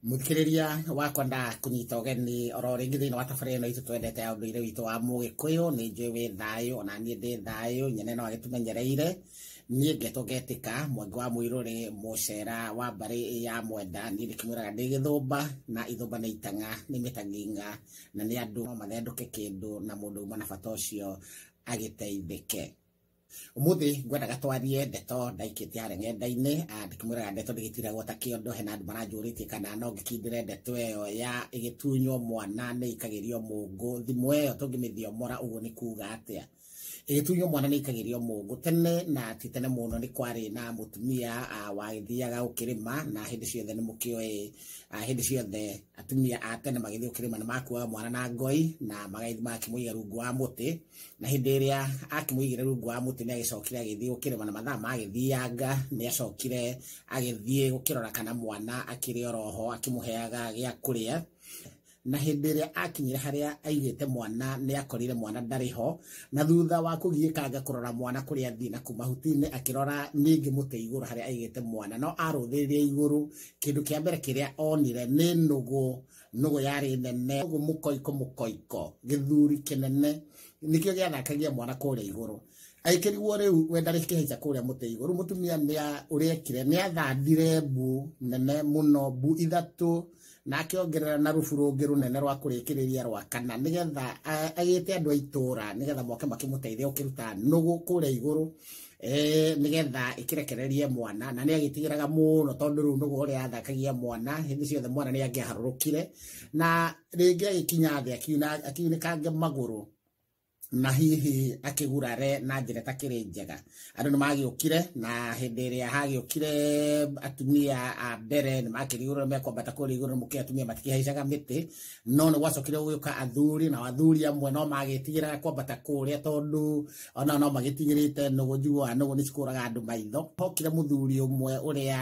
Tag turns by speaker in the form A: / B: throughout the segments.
A: muthikiriria wakwa nda kunyita ũgeni oro rĩngĩ thĩinĩ wa tabarĩ ĩno itũ twendete ya ũndũire witũ wa mũgĩkũyũ nĩ njũĩ wĩ thayũ ona niĩ ndĩ thayũ nyene no agĩtũmenyereire niĩ ngetwo ngetĩka mwangi wa mũirũrĩ mũcera wa mbarĩ ya mwenda niĩ ndĩkĩmwĩraga ndĩ gĩthũmba na ithũmba nĩ itang'a nĩ mĩtang'ing'a na nĩ andũ no mathendũke kĩndũ na mũndũ uma na bata ũcio agĩteithĩke umuthi ngwendaga twarie ndeto ndaikite harĩa ng'enda-inĩ ah, ndĩkĩmwĩraga ndeto ndĩgĩtiragwo ta kĩondo hena andũ maranjũrĩtie kana no ngĩkindĩre ndeto ĩyo ya ĩgĩtunywo mwana nĩ ikagĩrio mũngũ thimũ ĩyo tũngĩmĩthiomora ũguo nĩ kuga atĩa ĩgĩtunywo mwana nĩ ikagĩrio mũngũ tene na ti tene mũno nĩ kwarĩ na mũtumia ah, wagĩthiaga gũkĩrĩma na hĩndĩ ciothe nĩ mũkĩoĩ ah, hĩndĩ ciothe atumia a tene magĩthiĩ gũkĩrĩma nĩ makuaga mwana na ngoi na magagĩthiĩ magakĩmũiga rungu wa mũtĩ na hĩndĩ ĩrĩa akĩmũigire rungu wa mũtĩ nĩ agĩcokire agĩthiĩ gũkĩrĩma na mathaa magĩthianga nĩ acokire agĩthiĩ gũkĩrora kana mwana akĩrĩ oroho akĩmũheaga gĩa kũrĩa na hĩndĩ ĩrĩa akinyire harĩa aigĩte mwana nĩ akorire mwana ndarĩ ho na thutha wa kũgiĩkanga kũrora mwana kũrĩa athiĩ na kuma huti-inĩ akĩrora ningĩ mũtĩ igũrũ harĩa aigĩte mwana no arũthĩrĩria igũrũ kĩndũ kĩa mbere kĩrĩa onire nĩ nũgũ nũgũ yarĩ nene ũguo mũkoiko mũkoiko gĩthuri kĩnene nĩkĩo gĩathakagia mwana kũrĩa igũrũ aikĩriguo rĩu we ndarĩ kĩhaica kũrĩa mũtĩ igũrũ mũtumia ũrĩa ekire nĩ athandire mbu nene mũno mbu ithatũ na akĩongerera na rubu rũngĩ rũnene rwa kũrĩkĩrĩria rwa kana nĩgetha agĩte andũ a itũra nĩgetha moke makĩmũteithia ũkĩruta nũgũ kũrĩa igũrũ eh, nĩgetha ĩkĩrekererie mwana na nĩ agĩtigĩraga mũno tondũ rĩu nũgũ ũrĩa athakagia mwana hĩndĩ ciothe mwana nĩ angĩaharũrũkire na rĩngĩ agĩkinya thĩ akiuna- akiunĩkange magũrũ na hihi akĩgurare na njĩra ĩtakĩrĩ njega andũ nĩ magĩũkire na hĩndĩ ĩrĩa hagĩũkire atumia a mbere nĩ makĩrigũrwo mekwambata kũrigũrwo mũkĩ atumia matikĩhaicaga mĩtĩ no nĩ gwacokire gũgĩũka athuri na athuri amwe no magĩtigĩraga kwambata kũrĩa tondũ ona no magĩtigĩrĩte nũgũ njiguaga nũgũ nĩ cikũraga andũ maitho hokire mũthuri ũmwe ũrĩa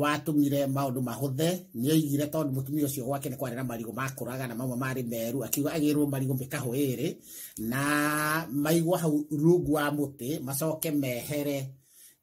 A: watũmire maũndũ mahũthe nĩ oigire tondũ mũtumia ũcio gwake nĩ kwarĩ na marigũ makũraga na mamwe marĩ meru akiuga agĩrwo marigũ mĩkahũ ĩrĩ na maigwa hau rungu wa mũtĩ macoke mehere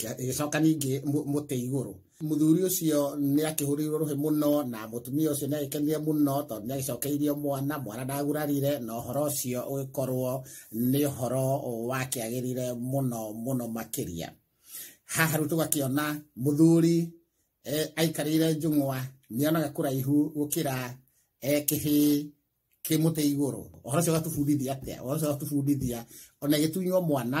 A: gĩgĩcoka ningĩ mũtĩ igũrũ mũthuri ũcio nĩ akĩhũrĩirwo rũhĩ mũno na mũtumia ũcio nĩ agĩkenire mũno tondũ nĩ agĩcokeirio mwana mwana ndagurarire na ũhoro ũcio ũgĩkorwo nĩ ũhoro wakĩagĩrire mũno mũno makĩria haha rĩu tũgakĩona mũthuri eh, aikarĩire njũng'wa nĩ onaga kũraihu gũkĩra eh, kĩhĩĩ kĩ mũtĩ igũrũ ũhoro ũcio ũgatũbundithia atĩa ũhoro ũcio ũgatũbundithia ona ĩgĩtunywo mwana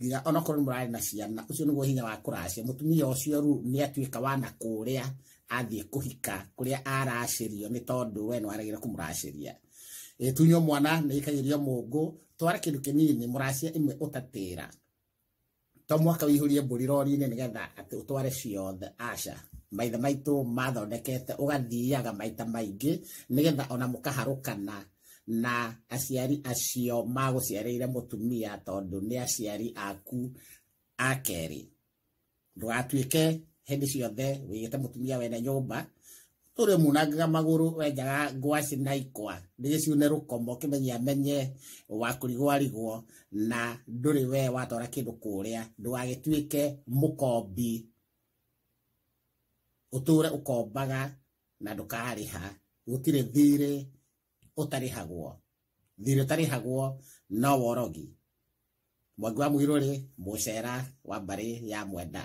A: nginya onakorwo nĩ mũrarĩ na ciana ũcio nĩguo hinya wa kũracia mũtumia ũcio rĩu nĩ atuĩka wa na kũrĩa athiĩ kũhika kũrĩa aracĩrio nĩ tondũ we nĩwaragĩra kũmũracĩria Eh, tunywo mwana nĩ ĩkagĩrio mũngũ twara kĩndũ kĩnini mũracia ĩmwe ũtatĩra to mwaka wĩihũrie mbũri rori-inĩ nĩgetha atĩ ũtware ciothe aca maithe maitũ mathondekete ũgathiaga maita maingĩ nĩgetha ona mũkaharũkana na aciari acio magũciarĩire mũtumia tondũ nĩ aciari aku a kerĩ ndũgatuĩke hĩndĩ ciothe wĩgĩte mũtumia wene nyũmba ũrĩ munangaga magũrũ wenjaga ngwacĩ na ikwa nĩgĩciune rũkomo kĩmenye amenye wa kũrigwarigwo na ndũrĩ we watwara kĩndũ kũrĩa ndũgagĩtuĩke mũkombi ũtũre ũkombaga na ndũkarĩha gũtirĩ thirĩ ũtarĩhagwo thirĩ ũtarĩhagwo no worogi mwangi wa mũirũ rĩ mũcera wa mbarĩ ya mwenda